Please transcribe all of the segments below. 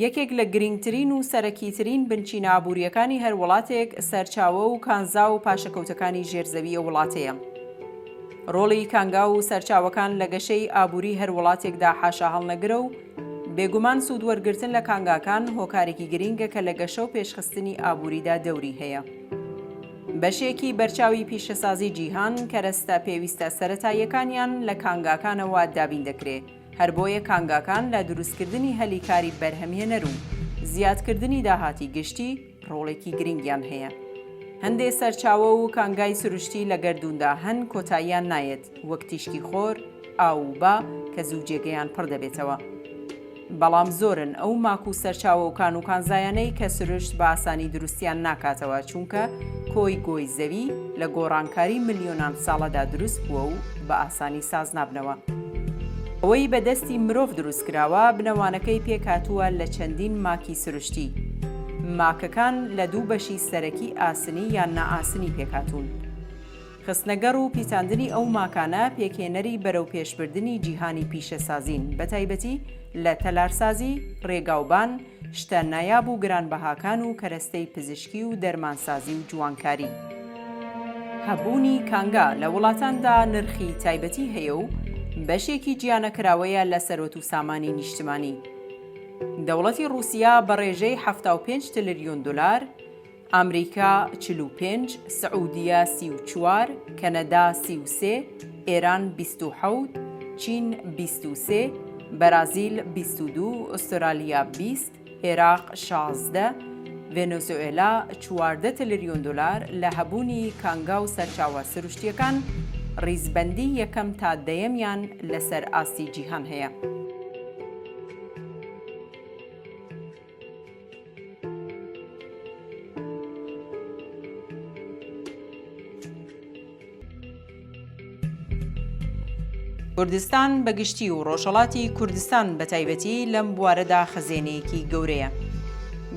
یەکێک لە گرینگترین و سەرەکیترین بنچینە ئابوورییەکانی هەر وڵاتێک سەرچاوە و کانزا و پاشەکەوتەکانی ژێر زەویی وڵاتەیە. ڕۆڵی کانگا و سەرچاوەکان لە گەشەی ئابووریی هەر وڵاتێکدا حاشاهەڵنەگرە و بێگومان سوودوەرگرتن لە کانگاکان هۆکارێکی گرینگە کە لە گەشە و پێشخستنی ئابووریدا دەوری هەیە. بەشێکی بەرچاوی پیشەسازیی جیهان کەرەستە پێویستە سەرەتاییەکانیان لە کانگاکانەوە دابین دەکرێ. هەر بۆیە کانگاکان لە دروستکردنی هەلی کاری بەرهەمهێنەر و زیادکردنی داهاتی گشتی ڕۆڵێکی گرنگیان هەیە. هەندێ سەرچاوە و کانگای سروشتی لە گەردووندا هەن کۆتاییان نایەت، وەک تیشکی خۆر، ئاو و با کە زوو جێگەیان پڕ دەبێتەوە. بەڵام زۆرن ئەو ماک و سەرچاوە و کان و کانزایانەی کە سروشت بە ئاسانی دروستیان ناکاتەوە چونکە کۆی گۆی زەوی لە گۆڕانکاری ملیۆنان ساڵەدا دروست بووە و بە ئاسانی ساز نابنەوە. ئەوەی بە دەستی مرۆڤ دروست کراوە، بنەوانەکەی پێکهاتووە لە چەندین ماکی سروشتی. ماکەکان لە دوو بەشی سەرەکی ئاسنی یان نائاسنی پێکهاتوون. خستنەگەڕ و پیتاندنی ئەو ماکانە پێکهێنەری بەرەوپێشبردنی جیهانی پیشەسازین، بەتایبەتی لە تەلارسازی، رێگاوبان، شتە نایاب و گرانبەهاکان و کەرەستەی پزیشکی و دەرمانسازی و جوانکاری. هەبوونی کانگا لە وڵاتاندا نرخی تایبەتی هەیە و بەشێکی جیانەکراوەیە لە سەروەت و سامانی نیشتمانی. دەوڵەتی ڕووسیا بە ڕێژەی حەفتا و پێنج تلریون دولار، ئامریکا چل و پێنج، سعودیە سی و چوار، کەنەدا سی و سێ، ئێران بیست و حەوت، چین بیست و سێ، بەرازیل بیست و دوو، ئوسترالیا بیست، ئێراق شازدە، ڤێنزوئێلا چواردە تلریۆن دۆلار لە هەبوونی کانگا و سەرچاوە سروشتییەکان ڕیزبەندیی یەکەم تا دەیەمیان لەسەر ئاستی جیهان هەیە. کوردستان بە گشتی و ڕۆژهڵاتی کوردستان بە تایبەتی لەم بوارەدا خەزێنەیەکی گەورەیە.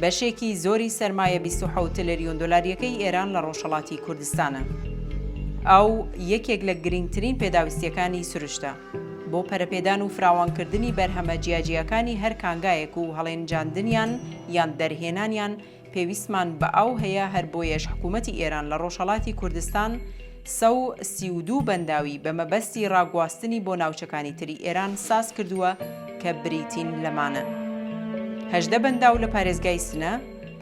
بەشێکی زۆری سەرمایە 26 تلریۆن دلاریەکەی ئێران لە ڕۆژهڵاتی کوردستانە. ئاو یەکێک لە گرنگترین پێداویستیەکانی سروشتە. بۆ پەرەپێدان و فراوانکردنی بەرهەمە جیاجیاکانی هەر کانگایەک و هەڵێنجاندنیان یان دەرهێنانیان پێویستمان بە ئاو هەیە هەر بۆیەش حکوومەتی ئێران لە ڕۆژهەڵاتی کوردستان سە و سی و دوو بەنداوی بە مەبەستی ڕاگواستنی بۆ ناوچەکانی تری ئێران ساز کردووە کە بریتین لەمانە هەژدە بەنداو لە پارێزگای سنە،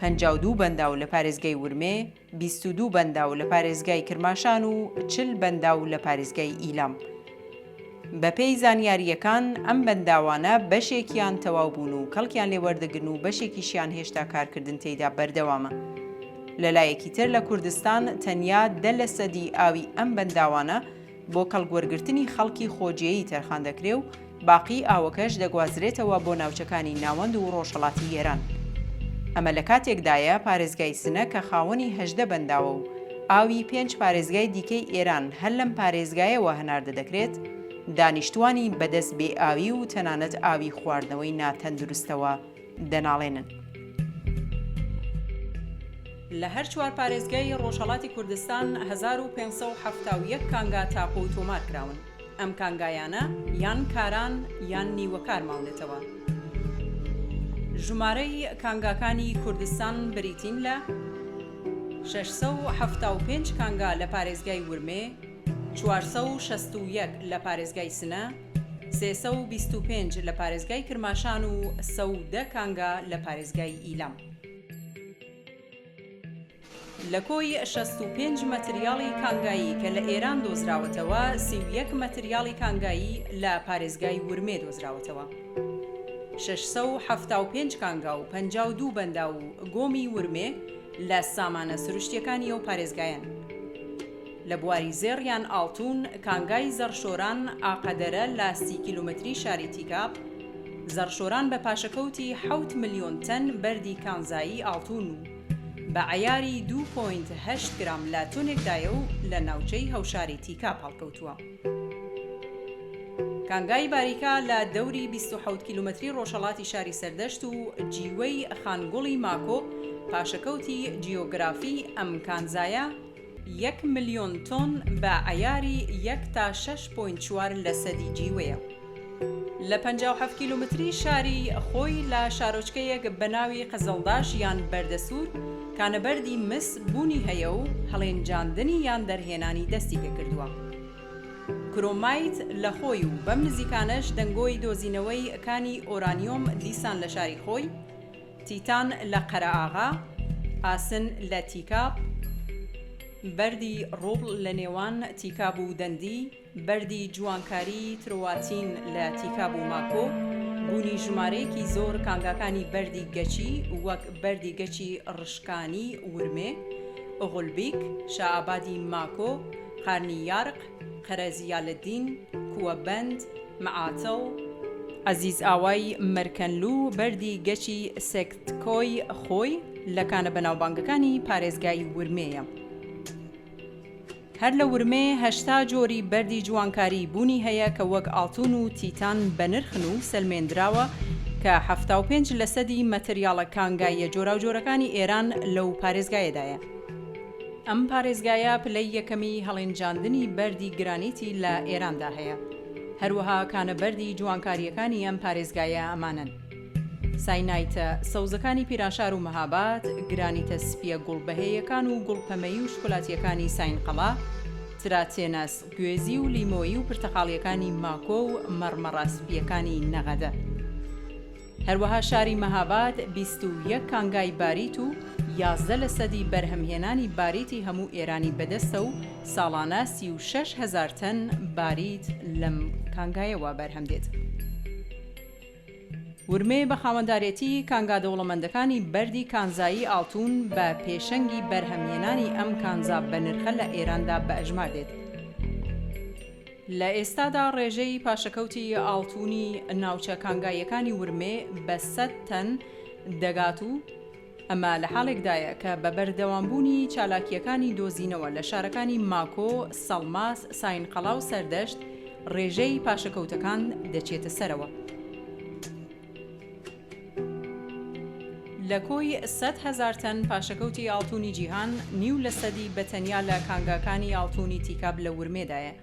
پەنجا و دوو بەنداو لە پارێزگای ورمێ، بیست و دوو بەنداو لە پارێزگای کرماشان و چل بەنداو لە پارێزگای ئیلام. بەپێی زانیارییەکان، ئەم بەنداوانە بەشێکیان تەواو بوون و کەڵکیان لێ وەردەگرن و بەشێکیشیان هێشتا کارکردن تێیدا بەردەوامە. لەلایەکی تر لە کوردستان تەنیا دە لەسەدی ئاوی ئەم بەنداوانە، بۆ کەڵکوەرگرتنی خەڵکی خۆجێیی تەرخان دەکرێ و باقیی ئاوەکەش دەگوازرێتەوە بۆ ناوچەکانی ناوەند و ڕۆژهەڵاتی ئێران. ئەمە لە کاتێکدایە پارێزگای سنە کە خاوەنی هەژدە بەنداوە و ئاوی پێنج پارێزگای دیکەی ئێران هەر لەم پارێزگایەوە هەناردە دەکرێت، دانیشتووانی بەدەست بێئاوی و تەنانەت ئاوی خواردنەوەی ناتەندروستەوە دەناڵێنن. لە هەر چوار پارێزگای ڕۆژهەڵاتی کوردستان هەزار و پێنج سەد و حەفتا و یەک کانگا تاپۆ تۆمار کراون. ئەم کانگایانە یان کاران یان نیوەکار ماونەتەوە. ژمارەی کانگاکانی کوردستان بریتین لە، شەش سەد و حەفتا و پێنج کانگا لە پارێزگای ورمێ، چوار سەد و شەست و یەک لە پارێزگای سنە، سێ سەد و بیست و پێنج لە پارێزگای کرماشان و سەد و دە کانگا لە پارێزگای ئیلام. لە کۆی شەست و پێنج مەتریاڵی کانگایی کە لە ئێران دۆزراوەتەوە، سی و یەک مەتریاڵی کانگایی لە پارێزگای ورمێ دۆزراوەتەوە. شەش سەد و حەفتا و پێنج کانگا و پەنجا و دوو بەنداو و گۆمی ورمێ لە سامانە سروشتییەکانی ئەو پارێزگایەن. لە بواری زێڕ یان ئاڵتوون، کانگای زەڕشۆران، ئاقەدەرە لە سی کیلۆمەتری شاری تیکاب، زەڕشۆران بە پاشەکەوتی حەوت ملیۆن تەن بەردی کانزایی ئاڵتوون و بە عەیاری دوو پۆینت هەشت گرام لە تۆنێکدایە و لە ناوچەی هەوشاری تیکاب هەڵکەوتووە. کانگای باریکا لە دەوری بیست و حەوت کیلۆمەتری ڕۆژهەڵاتی شاری سەردەشت و جیوەی خانگوڵی ماکۆ، پاشەکەوتی جیۆگرافی ئەم کانزایە، یەک ملیۆن تۆن بە عەیاری یەک تا شەش پۆینت چوار لەسەدی جیوەیە لە پەنجا و حەفت کیلۆمەتری شاری خۆی لە شارۆچکەیەک بە ناوی قزڵداش یان بەردەسوور کە نەبەردی مس بوونی هەیە و هەڵێنجاندنی یان دەرهێنانی دەستی پێ کردووە کرۆمایت لە خۆی و بەم نزیکانەش دەنگۆی دۆزینەوەی کانی ئۆرانیۆم دیسان لە شاری خۆی تیتان لە قەرەئاغا، ئاسن لە تیکاب، بەردی ڕوبڵ لە نێوان تیکاب و دەندی، بەردی جوانکاریی ترواتین لە تیکاب و ماکۆ، بوونی ژمارەیەکی زۆر کانگاکانی بەردی گەچی وەک بەردی گەچی ڕشکانی ورمێ، غولبیک، شائابادی ماکۆ، قارنی یارق، قەرە زیالەدین، کووە بەند، معاتڵ، عەزیز ئاوای مەرکەنلو و بەردی گەچی سەکتکۆی خۆی لە کانە بەناوبانگەکانی پارێزگای ورمێیە هەر لە ورمێ هەشتا جۆری بەردی جوانکاری بوونی هەیە کە وەک ئاڵتون و تیتان بەنرخن و سەلمێندراوە کە حەفتا و پێنج لەسەدی مەتریاڵە کانگاییە جۆراوجۆرەکانی ئێران لەو پارێزگایەدایە. ئەم پارێزگایە پلەی یەکەمی هەڵێنجاندنی بەردی گرانیتی لە ئێراندا هەیە. هەروەها کانە بەردی جوانکارییەکانی ئەم پارێزگایە ئەمانەن. ساینایتە سەوزەکانی پیرانشار و مەهاباد، گرانیتە سپییە گوڵ بەهێیەکان و گوڵ پەمەیی و شکولاتییەکانی ساینقەڵا، تراتێنەس، گوێزی و لیمۆیی و پرتەقاڵییەکانی ماکۆ و مەڕمەڕە سپییەکانی نەغەدە. هەروەها شاری مەهاباد بیست و یەک کانگای باریت و یازدە لەسەدی بەرهەمهێنانی باریتی هەموو ئێرانی بەدەستە و ساڵانە سی و شەش هەزار تەن باریت لەم کانگایەوە بەرهەمدێت. ورمێ بە خاوەندارێتی کانگا دەوڵەمەندەکانی بەردی کانزایی ئاڵتوون بە پێشەنگی بەرهەمهێنانی ئەم کانزا بەنرخە لە ئێراندا بەئەژمار دێت. لە ئێستادا ڕێژەی پاشەکەوتی ئاڵتونی ناوچە کانگاییەکانی ورمێ بە سەد تەن دەگات و ئەمە لە حاڵێکدایە کە بە بەردەوامبوونی چالاکییەکانی دۆزینەوە لە شارەکانی ماکۆ، سەڵماس، ساینقەڵا و سەردەشت ڕێژەی پاشەکەوتەکان دەچێتە سەرەوە. لە کۆی سەد هەزار تەن پاشەکەوتی ئاڵتونی جیهان، نیو لە سەدی بە تەنیا لە کانگاکانی ئاڵتونی تیکاب لە ورمێدایە.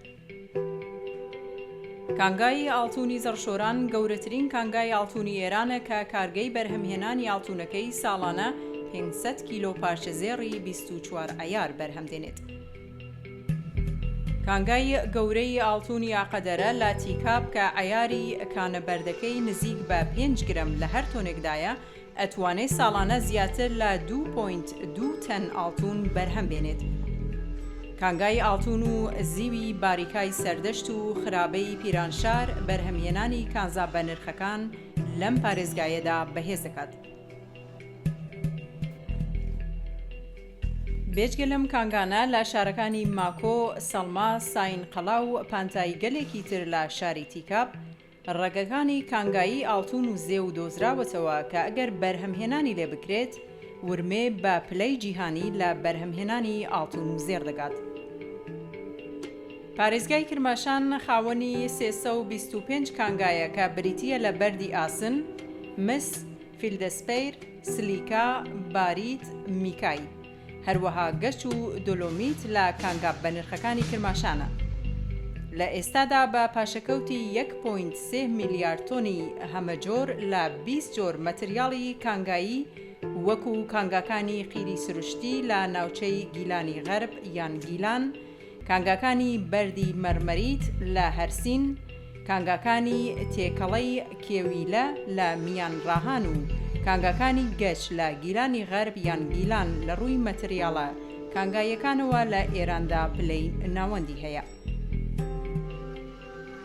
کانگای ئاڵتونی زەڕشۆران گەورەترین کانگای ئاڵتونی ئێرانە کە کارگەی بەرهەمهێنانی ئاڵتونەکەی ساڵانە پێنج سەد کیلۆ پارچە زێڕی بیست و چوار عەیار بەرهەم دێنێت. کانگای گەورەی ئاڵتونی ئاقەدەرە لە تیکاب کە عەیاری کانە بەردەکەی نزیک بە پێنج گرەم لە هەر تۆنێکدایە، ئەتوانێ ساڵانە زیاتر لە دوو پۆینت دوو تەن ئاڵتون بەرهەم بێنێت. کانگای ئاڵتون و زیوی باریکای سەردەشت و خرابەی پیرانشار بەرهەمهێنانی کانزا بەنرخەکان لەم پارێزگایەدا بەهێز دەکات. بێجگە لەم کانگانە لە شارەکانی ماکۆ، سەڵما، ساینقەڵا و پانتایی گەلێکی تر لە شاری تیکاب، ڕەگەکانی کانگایی ئاڵتون و زێو دۆزراوەتەوە کە ئەگەر بەرهەمهێنانی لێ بکرێت، ورمێ بە پلەی جیهانی لە بەرهەمهێنانی ئاڵتون و زێڕ دەگات. پارێزگای کرماشان خاوەنی سێ سەد و بیست و پێنج کانگایە کە بریتییە لە بەردی ئاسن، مس، فیلدەسپەیر، سلیکا، باریت، میکای. هەروەها گەچ و دۆلۆمیت لە کانگا بەنرخەکانی کرماشانە. لە ئێستادا بە پاشەکەوتی یەک پۆینت سێ میلیارد تۆنی هەمەجۆر لە بیست جۆر مەتریاڵی کانگایی وەکوو کانگاکانی قیری سروشتی لە ناوچەی گیلانی غەرب یان گیلان، کانگاکانی بەردی مەرمەریت لە هەرسین، کانگاکانی تێکەڵەی کێویلە لە میانڕاهان و کانگاکانی گەچ لە گیلانی غەرب یان گیلان لە ڕووی مەتریاڵە کانگاییەکانەوە لە ئێراندا پلەی ناوەندی هەیە.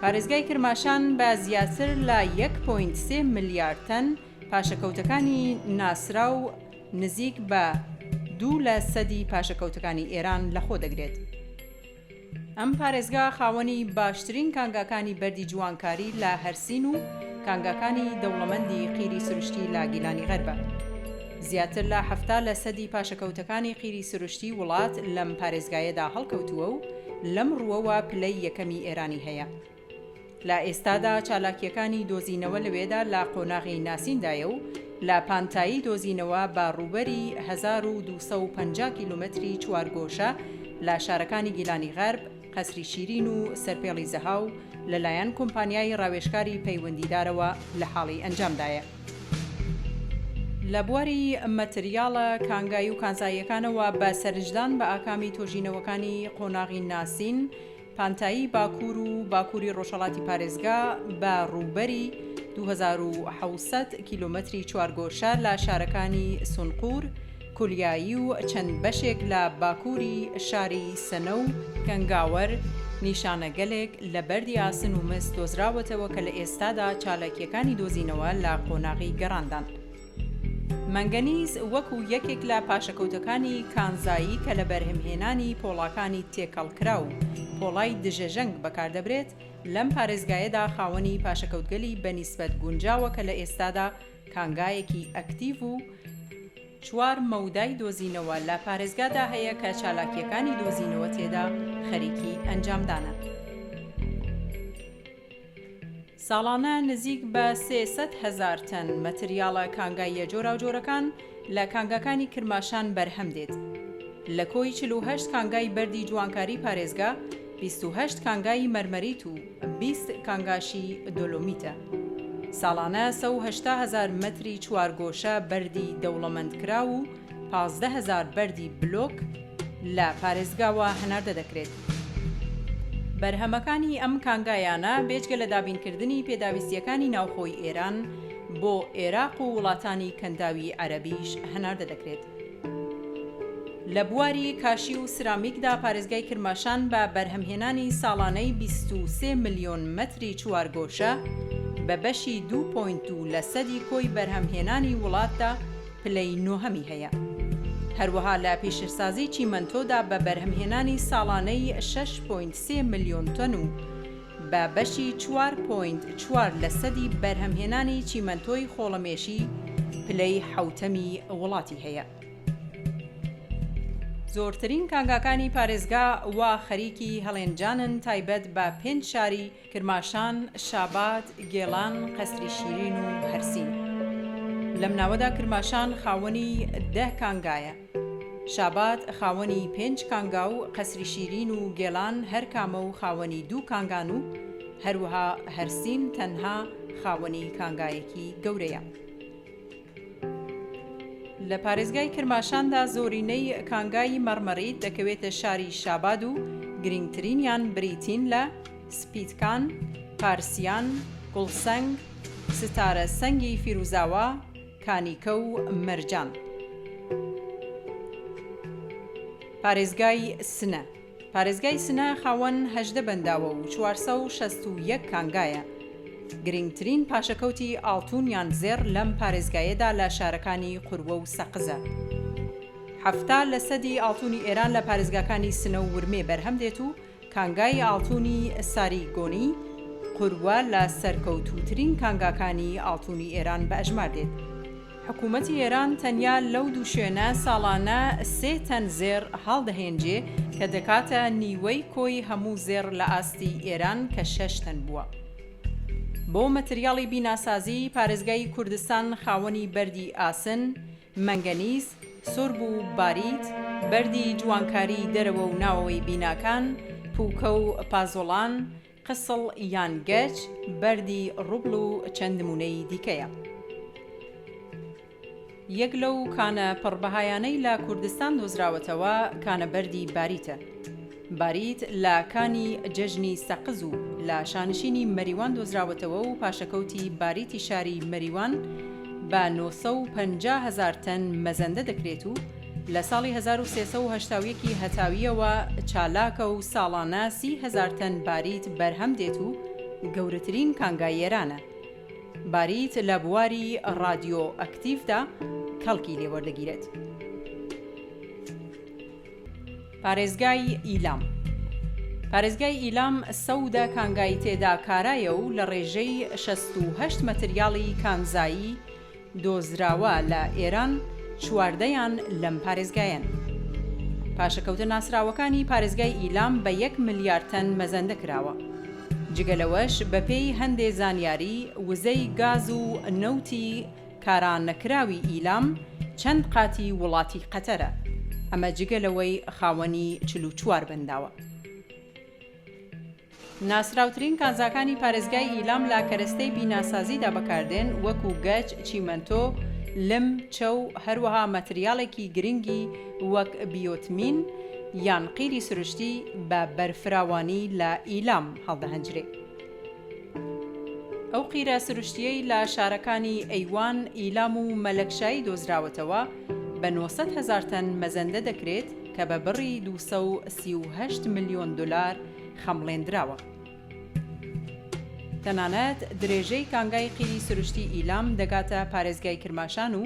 پارێزگای کرماشان بە زیاتر لە یەک پۆینت سێ ملیار تەن پاشەکەوتەکانی ناسراو، نزیک بە دوو لە سەدی پاشەکەوتەکانی ئێران لەخۆ دەگرێت. ئەم پارێزگا خاوەنی باشترین کانگاکانی بەردی جوانکاری لە هەرسین و کانگاکانی دەوڵەمەندی قیری سروشتی لە گیلانی غەربە. زیاتر لە حەفتا لە سەدی پاشەکەوتەکانی قیری سروشتی وڵات لەم پارێزگایەدا هەڵکەوتووە و لەم ڕووەوە پلەی یەکەمی ئێرانی هەیە. لە ئێستادا چالاکییەکانی دۆزینەوە لەوێدا لە قۆناغی ناسیندایە و لە پانتایی دۆزینەوە بە ڕووبەری هەزار و دوو سەد و پەنجا کیلۆمەتری چوارگۆشە لە شارەکانی گیلانی غەرب، قەسری شیرین و سەرپێڵی زەهاو لەلایەن کۆمپانیای ڕاوێژکاری پەیوەندیدارەوە لە حاڵی ئەنجامدایە. لە بواری مەتریاڵە کانگای و کانزاییەکانەوە بە سەرنجدان بە ئاکامی تۆژینەوەکانی قۆناغی ناسین، پانتایی باکوور و باکووری ڕۆژهەڵاتی پارێزگا بە ڕووبەری دوو هەزار و حەوت سەد کیلۆمەتری چوارگۆشە لە شارەکانی سونقور، کولیایی و چەند بەشێک لە باکووری شاری سنە و گەنگاوەر، نیشانەگەلێک لە بەردی ئاسن و مس دۆزراوەتەوە کە لە ئێستادا چالاکییەکانی دۆزینەوە لە قۆناغی گەڕاندان. مەنگەنیز وەکو یەکێک لە پاشەکەوتەکانی کانزایی کە لە بەرهەمهێنانی پۆڵاکانی تێکەڵکراو پۆڵای دژەژەنگ بەکاردەبرێت، لەم پارێزگایەدا خاوەنی پاشەکەوتگەلی بە نیسبەت گونجاوە کە لە ئێستادا کانگایەکی ئەکتیڤ و چوار مەودای دۆزینەوە لە پارێزگادا هەیە کە چالاکییەکانی دۆزینەوە تێدا خەریکی ئەنجامدانە. ساڵانە نزیک بە سێ سەد هەزار تەن مەتریاڵە کانگاییە جۆراوجۆرەکان لە کانگاکانی کرماشان بەرهەم دێت. لە کۆی چل و هەشت کانگای بەردی جوانکاری پارێزگا، بیست و هەشت کانگای مەرمەریت و بیست کانگاشی دۆلۆمیتە. ساڵانە سەو هەشتا هەزار مەتری چوارگۆشە بەردی دەوڵەمەندکراو و پازدە هەزار بەردی بلۆک لە پارێزگاوە هەناردە دەکرێت. بەرهەمەکانی ئەم کانگایانە بێجگە لە دابینکردنی پێداویستییەکانی ناوخۆی ئێران، بۆ ئێراق و وڵاتانی کەنداوی عەرەبیش هەناردە دەکرێت. لە بواری کاشی و سرامیکدا پارێزگای کرماشان بە بەرهەمهێنانی ساڵانەی بیست و سێ ملیۆن مەتری چوارگۆشە، بە بەشی دوو پۆینت دوو لەسەدی کۆی بەرهەمهێنانی وڵاتدا، پلەی نۆهەمی هەیە. هەروەها لە پیشەسازی چیمەنتۆدا بە بەرهەمهێنانی ساڵانەی شەش پۆینت سێ ملیۆن تۆن و بە بەشی چوار پۆینت چوار لەسەدی بەرهەمهێنانی چیمەنتۆی خۆڵەمێشی پلەی حەوتەمی وڵاتی هەیە. زۆرترین کانگاکانی پارێزگا وا خەریکی هەڵێنجانن تایبەت بە پێنج شاری کرماشان، شاباد، گێڵان، قەسری شیرین و هەرسین. لەم ناوەدا کرماشان خاوەنی دە کانگایە. شاباد خاوەنی پێنج کانگا و قەسری شیرین و گێڵان هەر کامە و خاوەنی دوو کانگان و هەروەها هەرسین تەنها خاوەنی کانگایەکی گەورەیە. لە پارێزگای کرماشاندا زۆرینەی کانگای مەڕمەڕیت دەکەوێتە شاری شاباد و گرنگترینیان بریتین لە، سپیتکان، پارسیان، گوڵسەنگ، ستارە سەنگی فیروزاوا، کانیکە و مەرجان. پارێزگای سنە. پارێزگای سنە خاوەن هەژدە بەنداوە و چوار سەد و شەست و یەک کانگایە. گرنگترین پاشەکەوتی ئاڵتوون یان زێڕ لەم پارێزگایەدا لە شارەکانی قوروە و سەقزە. حەفتا لە سەدی ئاڵتوونی ئێران لە پارێزگاکانی سنە و ورمێ بەرهەم دێت و کانگای ئاڵتوونی ساری گۆنی، قوروە، لە سەرکەوتووترین کانگاکانی ئاڵتوونی ئێران بە ئەژمار دێت. حکوومەتی ئێران تەنیا لەو دوو شوێنە ساڵانە سێ تەن زێڕ هەڵدەهێنجێ کە دەکاتە نیوەی کۆی هەموو زێڕ لە ئاستی ئێران کە شەش تەن بووە. بۆ مەتریاڵی بیناسازی، پارێزگای کوردستان خاوەنی بەردی ئاسن، مەنگەنیز، سورب و باریت، بەردی جوانکاریی دەرەوە و ناوەوەی بیناکان، پووکە و پازۆڵان، قسڵ یان گەچ، بەردی ڕوبڵ و چەند نموونەی دیکەیە. یەک لەو کانە پڕ بەهایانەی لە کوردستان دۆزراوەتەوە کانە بەردی باریتە. باریت لە کانی جەژنی سەقز و لە شانشینی مەریوان دۆزراوەتەوە و پاشەکەوتی باریتی شاری مەریوان بە نۆ سەد و پەنجا هەزار تەن مەزەندە دەکرێت و لە ساڵی هەزار و سێ سەد و هەشتا و یەک ی هەتاوییەوە چالاکە و ساڵانە سی هەزار تەن باریت بەرهەم دێت و گەورەترین کانگای ئێرانە. باریت لە بواری ڕادیۆئەکتیڤدا کەڵکی لێ وەردەگیرێت. پارێزگای ئیلام پارێزگای ئیلام سەودە کانگای تێدا کارایە و لە ڕێژەی شەست و هەشت مەتریاڵی کانزایی، دۆزراوە لە ئێران چواردەیان لەم پارێزگایەن. پاشەکەوتە ناسراوەکانی پارێزگای ئیلام بە یەک ملیار تەن مەزەندە کراوە. جگە لەوەش بەپێی هەندێ زانیاری وزەی گاز و نەوتی کارا نەکراوی ئیلام چەند قاتی وڵاتی قەتەرە ئەمە جگە لەوەی خاوەنی چل و چوار بەنداوە. ناسراوترین کانزاکانی پارێزگای ئیلام لە کەرەستەی بیناسازیدا بەکاردێن، وەکو گەچ، چیمەنتۆ، لم، چەو، هەروەها مەتریاڵێکی گرنگی وەک بیۆتمین یان قیری سروشتی بە بەرفراوانی لە ئیلام هەڵدەهەنجرێ. ئەو قیرە سروشتییەی لە شارەکانی ئەیوان، ئیلام و مەلەکشایی دۆزراوەتەوە بە نۆ سەد هەزار تەن مەزەندە دەکرێت کە بە بڕی دوو سەد و سی و هەشت ملیۆن دۆلار خەمڵێندراوە. تەنانەت درێژەی کانگای قیری سروشتی ئیلام دەگاتە پارێزگای کرماشان و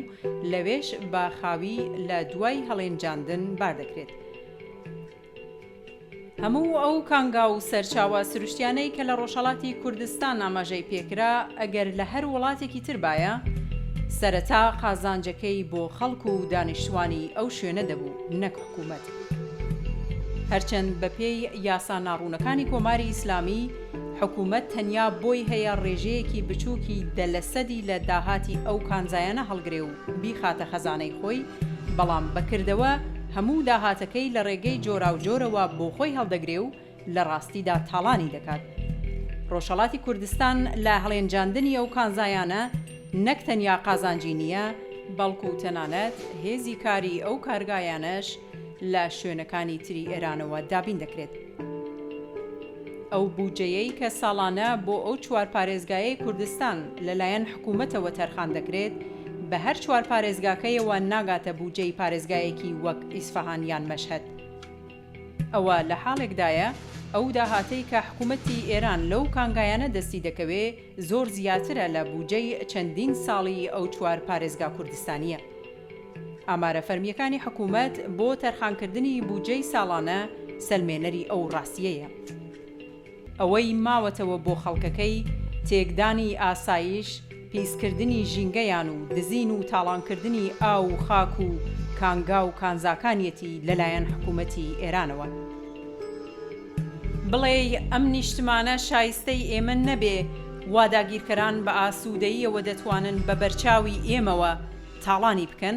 لەوێش بە خاوی لە دوای هەڵێنجاندن بار دەکرێت. هەموو ئەو کانگا و سەرچاوە سروشتیانەی کە لە ڕۆژهەڵاتی کوردستان ئاماژەی پێکرا ئەگەر لە هەر وڵاتێکی تر بایە سەرەتا قازانجەکەی بۆ خەڵک و دانیشتوانی ئەو شوێنە دەبوو نەک حکوومەت. هەرچەند بەپێی یاسا ناڕوونەکانی کۆماری ئیسلامی، حکوومەت تەنیا بۆی هەیە ڕێژەیەکی بچووکی دە لە سەدی لە داهاتی ئەو کانزایانە هەڵگرێ و بیخاتە خەزانەی خۆی، بەڵام بە کردەوە هەموو داهاتەکەی لە ڕێگەی جۆراوجۆرەوە بۆ خۆی هەڵدەگرێ و، لە ڕاستیدا تاڵانی دەکات. ڕۆژهەڵاتی کوردستان لە هەڵێنجاندنی ئەو کانزایانە نەک تەنیا قازانجی نییە، بەڵکو تەنانەت هێزی کاری ئەو کارگایانەش لە شوێنەکانی تری ئێرانەوە دابین دەکرێت. ئەو بودجەیەی کە ساڵانە بۆ ئەو چوار پارێزگایەی کوردستان لە لایەن حکوومەتەوە تەرخان دەکرێت، بە هەر چوار پارێزگاکەیەوە ناگاتە بودجەی پارێزگایەکی وەک ئیسفەهان یان مەشهەد. ئەوە لە حاڵێکدایە ئەو داهاتەی کە حکوومەتی ئێران لەو کانگایانە دەستی دەکەوێ زۆر زیاترە لە بووجەی چەندین ساڵی ئەو چوار پارێزگا کوردستانییە. ئامارە فەرمییەکانی حکوومەت بۆ تەرخانکردنی بووجەی ساڵانە سەلمێنەری ئەو ڕاستییەیە. ئەوەی ماوەتەوە بۆ خەڵکەکەی، تێکدانی ئاسایش، پیسکردنی ژینگەیان و دزین و تاڵانکردنی ئاو و خاک و کانگا و کانزاکانیەتی لەلایەن حکومەتی ئێرانەوە. بڵێی ئەم نیشتمانە شایستەی ئێمە نەبێ، وا داگیرکەران بە ئاسوودەییەوە دەتوانن بە بەرچاوی ئێمەوە تاڵانی بکەن؟